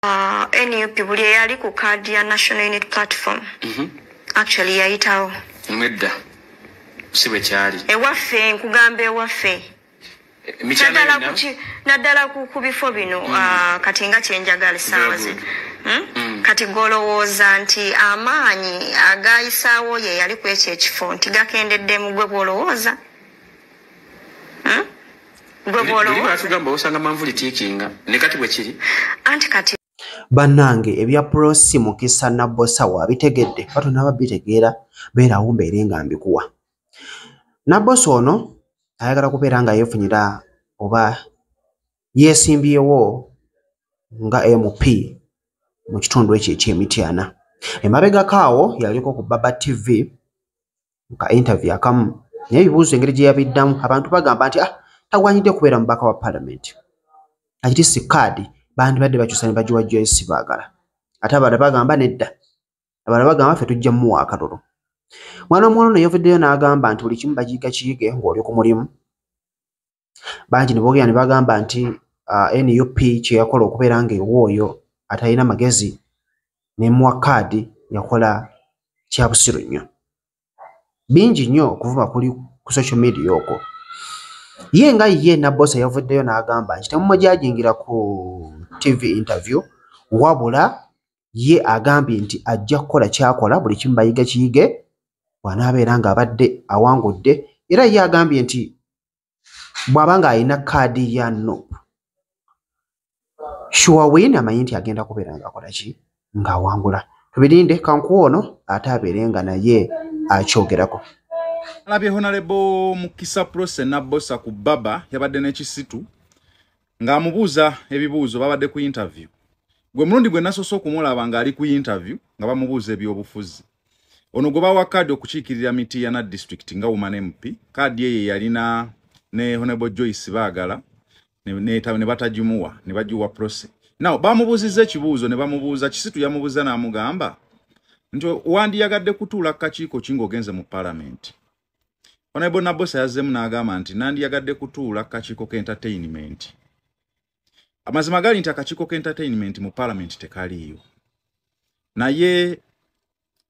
Uh, nup buli eyali ku kaadi ya national unit platform mm -hmm. actually yayitawo nedda si bwe kyali ewaffe nkugamba ewaffe naddala ku bifo bino mm. uh, kati nga kyenjagala esaawa zino hmm? mm. kati golowooza nti amaanyi agayisaawo ye yali ku ekyo ekifo nti gakendeddemu gwe bwolowooza bannange ebya prosi mukisa nabbosa wabitegedde bato naba bitegeera beerawo mbeere nga mbikuwa nabbosa ono ayagala kubeera nga yeefunyira oba yeesimbyewo nga mp mu kitundu ekyo ekyemityana emabegako awo yaliko ku baba tv ka interview akamu naye ebibuuzo engeri gye yabiddamu abantu bagamba nti ah tagwanyidde kubeera mubaka wa palamenti akiti si kaadi bandibadde bakyusa ne bagiwa joyce baagala ate abala bagamba nedda abala bagamba ffe tujja muwa akalulu mwana omuwala ono yaveddeyo n'agamba nti buli kimu bagiyiga kiyige ng'oli ku mulimu bangi ne boogera ne bagamba nti uh, nup kyeyakola okubeera nga ewa oyo atalina magezi nemuwa kaadi yakola kyabusiru nnyo bingi nnyo okuvuma kuli ku social media okwo ye nga ye nabosa yavuddeyo n'agamba nti temumujajingira ku tv interview wabula ye agambye nti ajja kukola kyakola buli kimu bayiga kiyige bwanaabeera ng'abadde awangudde era ye agambye nti bwaba nga alina kaadi ya nop shuwa win amanyi nti agenda kubeera nga akola ki ng'awangula tubirinde kankuwa ono ate abeere nga naye akyogerako alabye honalebo mukisa prose nabosa ku baba yabadde n'ekisitu ng'amubuuza ebibuuzo babadde ku interview gwe mulundi gwe nasoose okumulaba ng'ali ku interview nga bamubuuza ebyobufuzi ono gwe bawa kaadi okukiikirira mitiyana district nga woman mp kaadi eyo yalina ne honable joyce baagala ne batagimuwa ne bagiwa prose naw bamubuuzizza ekibuuzo ne bamubuuza kisitu yamubuuza n'amugamba nti wandiyagadde kutuula ku kakiiko ki ng'ogenze mu palamenti honable nabosa yazzemu n'agamba nti nandiyagadde kutuula ku kakiiko k'entertainment amazima gali nti akakiiko ka entertainment mu parliament tekaliiyo naye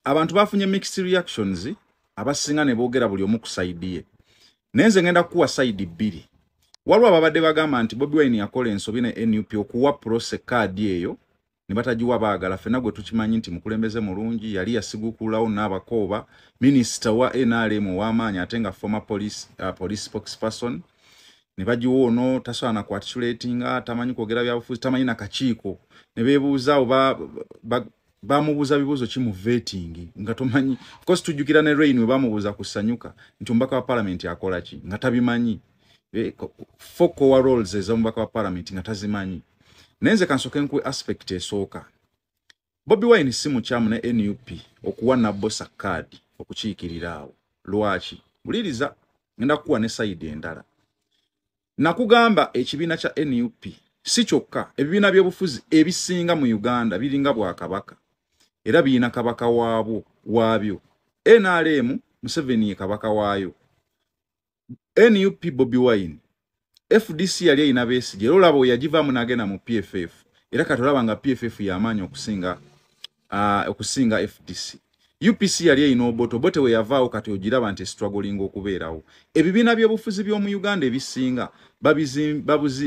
abantu bafunye mixed reactions abasinga ne boogera buli omu ku saidi ye naye nze ngenda kukuwa saidi bbiri waliwo ababadde bagamba nti bobi wine yakola ensobi ne nup okuwa prose kaadi eyo ne batagiwa baagala fena gwe tukimanyi nti mukulembeze mulungi yali yasigukuulawo naabakooba minisita wa nrm ow'amaanyi ate nga former police, uh, police spokesperson ne bagiwa ono tasobola nakuatisulatinga tamanyi kwogera byabufuzi tamanyi nakakiiko ne beebuuza oba bamubuuza bibuuzo ki mu vetingi nga tomanyi course tujjukira ne rain we bamubuuza ku sanyuka nti omubaka wa palamenti akola ki nga tabimanyi eh, fokowa roles ezomubaka wa parliament nga tazimanyi naye nze kansoke nkuwe aspect esooka bobi wine si mukyamu ne nup okuwa nabosa kaadi okukiikirira awo lwaki wuliriza ngenda kukuwa ne sayidi endala nakugamba ekibiina kya nup si kyokka ebibiina byobufuzi ebisinga mu uganda biringa bwakabaka era birina kabaka waabwo waabyo nrm museveni ye kabaka waayo nup bobi wine fdc yali erina besigye era olaba oyagivamu nagenda mu pff era kati olaba nga pff yamaanyi okusinga uh, okusinga fdc upc yali erina obote obote weyavaawo kati ogiraba nti estragolinga okubeerawo ebibiina byobufuzi byomu uganda ebisinga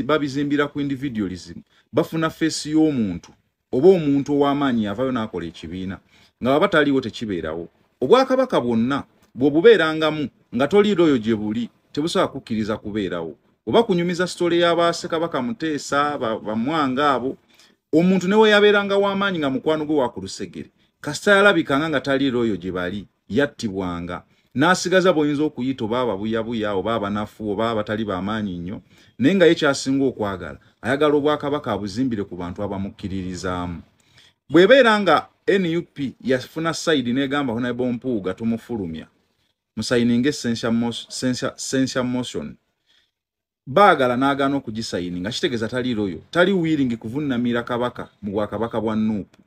babizimbira ku individualism bafuna feesi y'omuntu oba omuntu ow'amaanyi yavayo n'akola ekibiina nga baba taliiwo tekibeerawo obwakabaka bwonna bw'obubeerangamu nga toliira oyo gye buli tebusobola kukkiriza kubeerawo oba kunyumiza sitole y'abaasekabaka muteesa bamwanga abo omuntu ne weyabeeranga w'amaanyi nga mukwano gwe wakulusegere kasita yalabikanga nga taliira oyo gye bali yattibwanga n'asigaza bw'oyinza okuyita oba ababuyabuya oba abanafu oba abatali bamaanyi nnyo naye nga ye kyasinga okwagala ayagala obwakabaka abuzimbire ku bantu abamukkiririzaamu bw'ebeera nga nup yafuna sayidi n'egamba honable mpuuga tumufulumya musayininga essential motion baagala n'agaana okugisayininga kitegeeza tali loyo tali wiiringi kuvunnamira kabaka mu bwakabaka bwa nuupu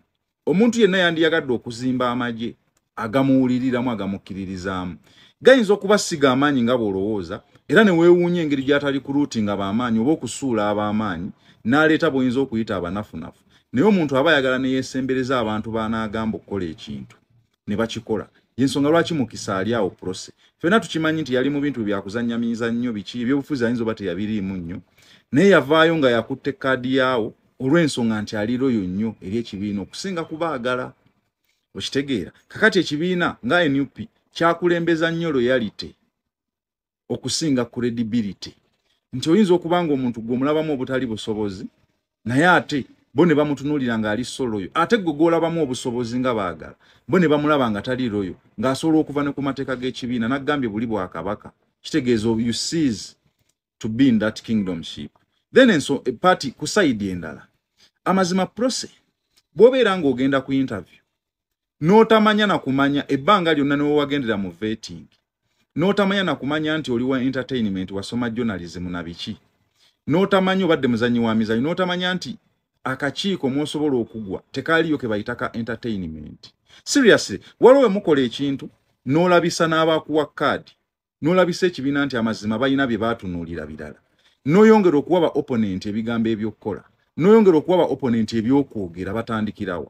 omuntu yenna yandiyagadde okuzimba amagye agamuwuliriramu agamukkiririzaamu gayinza okuba siga amaanyi nga bw'olowooza era ne weewuunya engeri gy'atali ku luuti nga b'amaanyi oba okusuula ab'amaanyi n'aleeta bw'oyinza okuyita abanafunafu naye omuntu aba ayagala ne yeesembereza abantu b'anaagamba okukola ekintu ne bakikola yensonga lwaki mukisa ali awo prose fena tukimanyi nti yali mu bintu byakuzanya mizannyo biki ebyobufuzi ayinza oba teyabiriimu nnyo naye yavaayo nga yakutte kaadi yaawo olw'ensonga nti aliroyo nnyo eri ekibiina okusinga kubaagala okitegeera kakati ekibiina nga nup kyakulembeza nnyo loyalite okusinga credibility nti oyinza okuba nga omuntu gwe omulabamu obutali busobozi naye ate bo ne bamutunuulira ng'ali soloyo ate gwe gwolabamu obusobozi nga baagala bo ne bamulaba nga tali loyo ng'asobola okuva ne ku mateeka g'ekibiina naggambye buli bwa kabaka kitegeeza you sees to be in that kingdomship then enso e party ku sayidi endala amazima prose bw'obeera ng'ogenda ku interview n'otamanya na kumanya ebbanga lyonna ne wewagendera mu vetting n'otamanya na kumanya nti oli wa entertainment wasoma journalism na biki n'otamanya obadde muzannyi wa mizanyo n'otamanya nti akakiiko mwosobola okugwa tekaaliyo ke bayita ka entertainment seriously waliwo we mukola ekintu n'olabisa n'abakuwa kaadi n'olabisa ekibiina nti amazima balina bye baatunuulira birala n'oyongera okuwa ba opponent ebigambo eby'okukola n'oyongera okuwa ba opponent eby'okwogera batandikirawo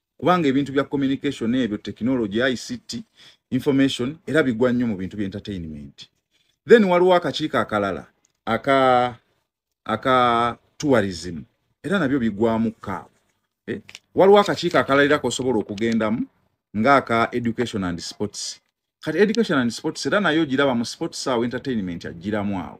kubanga ebintu bya communication ebyo technology ICT information era bigwa nnyo mu bintu bya entertainment then waliwo akakiiko akalala aka aka tourism era nabyo bigwamu ka eh? waliwo akakiiko akalalira kosobola okugendamu nga aka education and sports kati education and sports era nayo giraba mu sports awo entertainment agiramu awo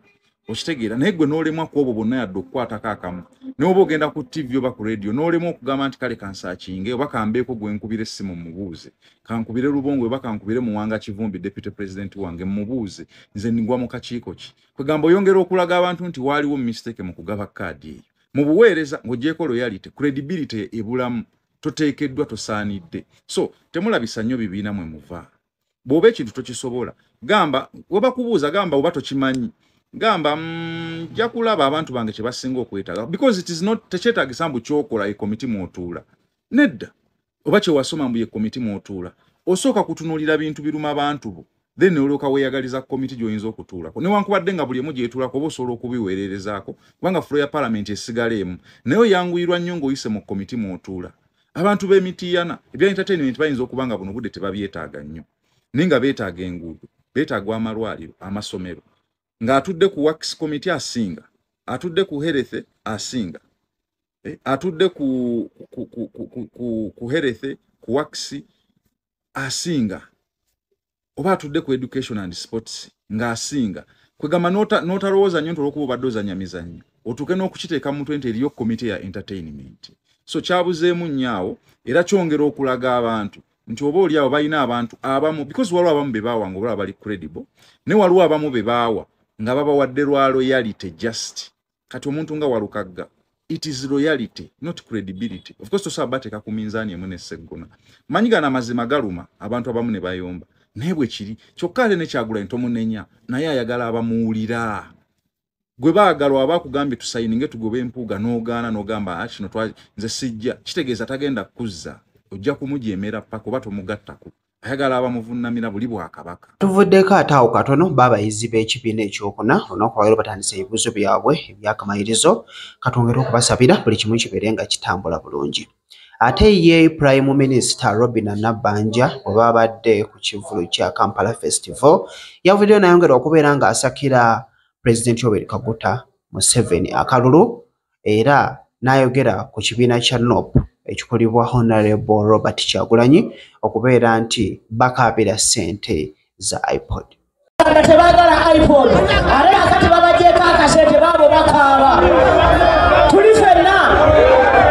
okitegeera naye gwe nolemwa ku obwo bonna yadde okukwatako akamu naye oba ogenda ku tv oba ku radio nolemwa okugamba nti kale kansakinge oba kambeeko gwe nkubira essimu mubuuze kankubire lubongo oba kankubire muwanga kivumbi deputy president wange mubuuze nze ngwa mu kakiiko ki kwegamba oyongera okulaga abantu nti waaliwo mistake mu kugaba kaadi eyo mu buweereza ng'ogyeko loyality credibility ebulamu toteekeddwa tosaanidde so temulabisa nnyo bibiina mwe muva bw'oba ekintu tokisobola gamba webakubuuza gamba oba tokimanyi gamba mm, nja kulaba abantu bange kye basinga okwetaaga because it is not tekyetaagisa mbu kyokola ye komiti mwotuula nedda oba kyewasoma mbu ye komiti mwotuula osooka kutunuulira bintu biruma bantu bo then noloka weyagaliza komiti gyoyinza okutuulako newankubadde nga buli emu gyetuulako oba osobola okubiweererezaako kubanga fulo ya palamenti esigala emu naye oyanguyirwa nnyo ngaoyise mu komiti mwotuula abantu b'emitiiyana ebya entertainment bayinza okuba nga buno budde tebabyetaaga nnyo naye nga beetaaga enguudo beetaaga amalwaliro amasomero ng'atudde ku wax komiti asinga atudde ku herethe asinga eh, atudde ku herethe ku waxi asinga oba atudde ku education and sports nga asinga kwegamba notalowooza nyo nti olwokuba obadde ozanya mizanyo otuuke n'okukiteeka mu mutwe nti eriyo komite ya entertainment so kyabuzeemu nnyo awo era kyongera okulaga abantu nti oba oli awo balina abantu abamu because waliwo abamu be baawa nga obalaba bali credible naye waliwo abamu be baawa nga babawadde lwa loyality just kati omuntu nga walukagga it is loyalty not credibility of course tosobola bateeka ku minzaani emu neseggona manyi gano amazima galuma abantu abamu ne bayomba naye bwe kiri kyokka ate nekyagulanyi tomunenya naye ayagala abamuwulira gwe baagala waba akugambye tusayininge tugoba empuuga n'ogaana n'ogamba ah, kino nze sijja kitegeeza tagenda kukuzza ojja kumujeemera paka oba tomugattako ayagala abamuvunnamira buli bwakabaka tuvuddeko ate awo katono baabayizi b'ekibiina ekyokuna olunaku lwalero batandisa ebibuuzo byabwe ebyakamalirizo katwongere okubasabira buli kimu kibeere nga kitambula bulungi ate ye prime minister robina nabbanja bwe babadde ku kivulu kya kampala festival yavuddeyo nayongera okubeera ng'asakira pulezidenti oberi kaguta museveni akalulu era n'ayogera ku kibiina kya nop ekikulibwa honarebo robert kyagulanyi okubeera nti bakaabira ssente za ipod tebagala ipod are akati babajeko akasente baabo bakaaba tuli fenna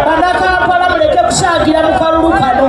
banakampala muleke kusagira mu kalulu kano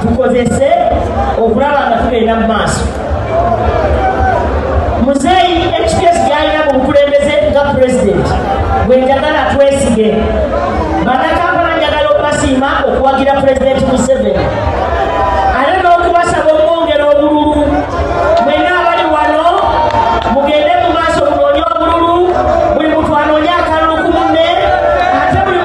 tukozese okulaba nga tugenda mu maaso muzeeyi ekiteesi gyalina mu bukulembeze nga pulezidenti bwe njagala twesige banakampala njagala okubasiima okuwagira pulezidenti museveni